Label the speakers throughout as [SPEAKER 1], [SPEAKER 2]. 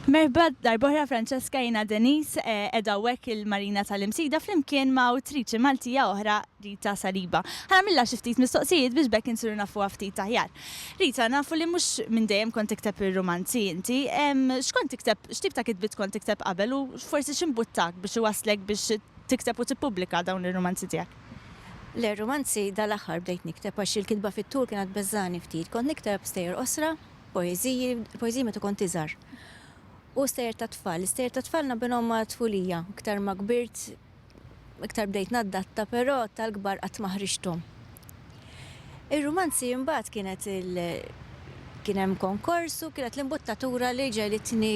[SPEAKER 1] Merba darbohra Francesca jina Denis eh, edha wek il-Marina tal-Imsida flimkien ma' utriċi Maltija oħra Rita Saliba. Ħana milla xiftit mistoqsijiet biex bekk insiru nafu ftit taħjar. Rita, nafu li mux minn dejjem kont tikteb il-romanzi inti, xkont tikteb, xtib ta' kitbit kont tikteb qabel u forsi ximbuttak biex iwaslek biex tikteb u tippubblika dawn il-romanzi tijak? Le, rumanzi
[SPEAKER 2] dal-aħħar bdejt nikteb għax il-kitba fit-tul kienet tbeżżagħni ftit. Kont nikteb stejjer qosra, poeżiji, il-poeżiji meta kont iżgħar. U stejjer tat-tfal. L-istejjer tat-tfal naqbilhom ma' tfulija. Iktar ma kbirt, iktar bdejt naddatta, però tal-kbar qatt ma ħriġthom. Ir-rumanzi imbagħad kienet il kien hemm konkors u kienet l-imbuttatura li ġegħlitni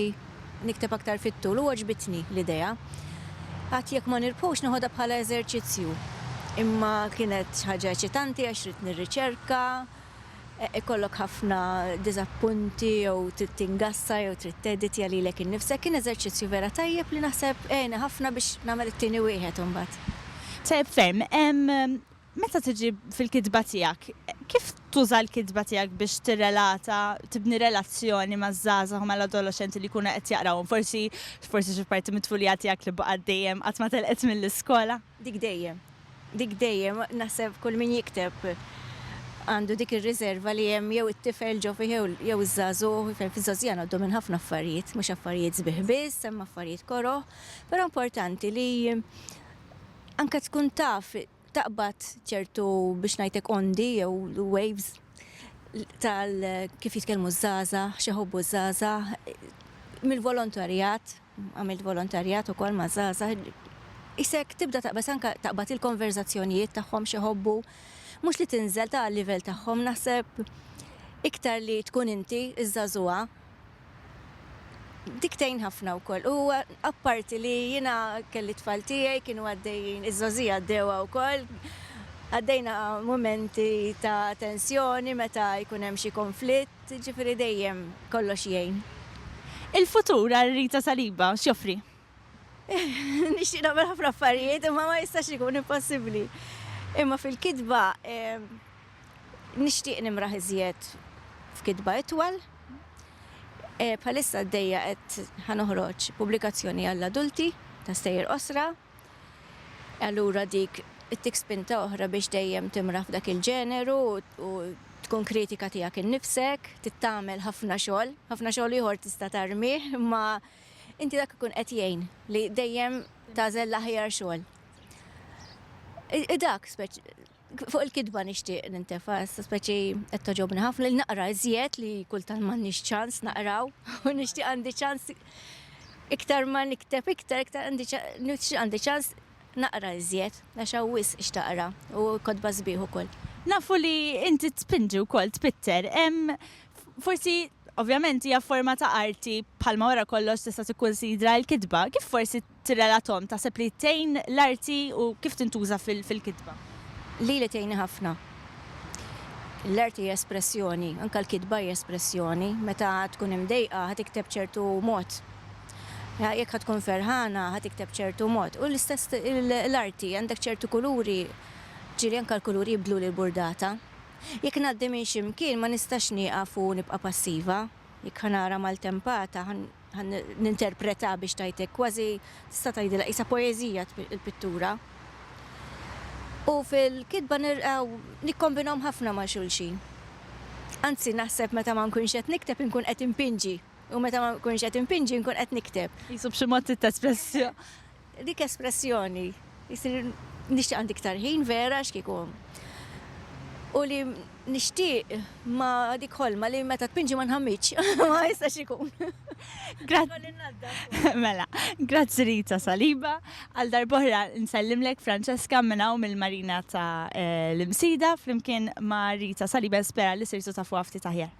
[SPEAKER 2] nikteb aktar fit-tul u għoġbitni l-idea. Għad jekk ma nirbħux neħodha bħala eżerċizzju. Imma kienet ħaġa eċitanti għax ridt nirriċerka, ikollok ħafna diżappunti jew trid tingassa jew trid teditja lilek innifsek, kien eżerċizzju vera tajjeb li naħseb għeni ħafna biex nagħmel it-tieni wieħed imbagħad. Tajjeb
[SPEAKER 1] ferm. Meta tiġi fil-kitba tiegħek, kif tuża l-kitba tiegħek biex tirrelata, tibni relazzjoni maż-żgħażagħ u mal-adoloxxenti li jkunu qed jaqrawhom? Forsi, forsi xi parti mit-tfulija tiegħek li baqgħet dejjem qatt ma telqet mill-iskola? Dik dejjem.
[SPEAKER 2] Dik dejjem. Naħseb kull min jikteb għandu dik ir-riserva li hemm jew it-tifel ġo fih jew jew iż-żagħżugħ, fejn fiż-żgħażugħ ngħaddu minn ħafna affarijiet, mhux affarijiet sbieħ biss, hemm affarijiet koroh, però importanti li anke tkun taf taqbad ċertu biex ngħidlek ondi jew waves tal kif jitkellmu ż-żgħażagħ, x'ihobbu ż-żgħażagħ, mill-volontarjat, għamilt volontarjat ukoll ma' żgħażagħ. Isek tibda taqbad anke taqbad il-konverżazzjonijiet tagħhom x'ihobbu, mhux li tinżel ta' livell tagħhom naħseb iktar li tkun inti iż-żagħżugħa Dik tgħin ħafna wkoll. U apparti li jiena kelli t-tfal tiegħi kienu għaddejjin, iż-żgħożija għaddewha wkoll, għaddejna mumenti ta' tensjoni meta jkun hemm xi konflitt, jiġifieri dejjem kollox jgħin. Il-futur
[SPEAKER 1] għal Rita Saliba x'joffri?
[SPEAKER 2] Nixtieq nagħmel ħafna affarijiet imma ma jistax ikun impossibbli. Imma fil-kitba. Nixtieq nimraħ iżjed f'kitba itwal. Bħalissa għaddejja qed ħa noħroġ pubblikazzjoni għall-adulti ta' stejjer qosra. Allura dik ittik spinta oħra biex dejjem timraħ f'dak il-ġeneru u tkun kritika tiegħek innifsek, trid tagħmel ħafna xogħol, ħafna xogħol ieħor tista' tarmih, imma inti dak ikun qed jgħin li dejjem tagħżel l-aħjar xogħol. Hi dak Fuq il-kidba nixtieq nintefa, issa speċi qed toġobni ħafna li naqra iżjed li kultant m'għandniex ċans naqraw u nixtieq għandi ċans iktar ma nikteb iktar iktar għandi ċans naqra iżjed għax hawnwis x'taqra u kodba sbieħ ukoll. Nafu li
[SPEAKER 1] inti tpinġi wkoll tpitter, forsi ovvjament hija forma ta' arti bħalma wara kollox tista' tikkunsidra l-kitba, kif forsi tirrelathom, taħseb li tgħin l-arti u kif tintuża fil-kitba? Lili tgħinni
[SPEAKER 2] ħafna. L-arti hi espressjoni, anke l-kitba hi espressjoni. Meta tkun imdejqa ħa tikteb ċertu mod. Jekk ħa tkun ferħana ħa tikteb b'ċertu mod. U l-istess l-arti, għandek ċertu kuluri, ġieli anke l-kuluri jibdlu l-burdata. Jekk ngħaddi minn xi mkien ma nistax nieqaf u nibqa' passiva. Jekk ħa nara maltempata ħan ninterpreta biex tgħidlek kważi tista' tgħidilha qisha poeżija il-pittura. U fil-kitba nirqgħu nikkombinhom ħafna ma' xulxin. Anzi naħseb meta ma nkunx qed nikteb inkun qed inpinġi u meta ma nkunx qed inpinġi nkun qed nikteb. Qisu b'xi mod
[SPEAKER 1] titespress. Dik
[SPEAKER 2] espressjoni, jsir nixtieq għandi iktar ħin vera għax kieku u li nixtieq ma dik ħolma li meta tpinġi ma nħammitx, ma jistax ikun.
[SPEAKER 1] Mela, grazzi Rita Saliba, għal darbohra nsellimlek Francesca minn hawn mill-Marina ta' eh, l-Imsida flimkien ma' Rita Saliba spera li sirtu ta' fuq ftit aħjar.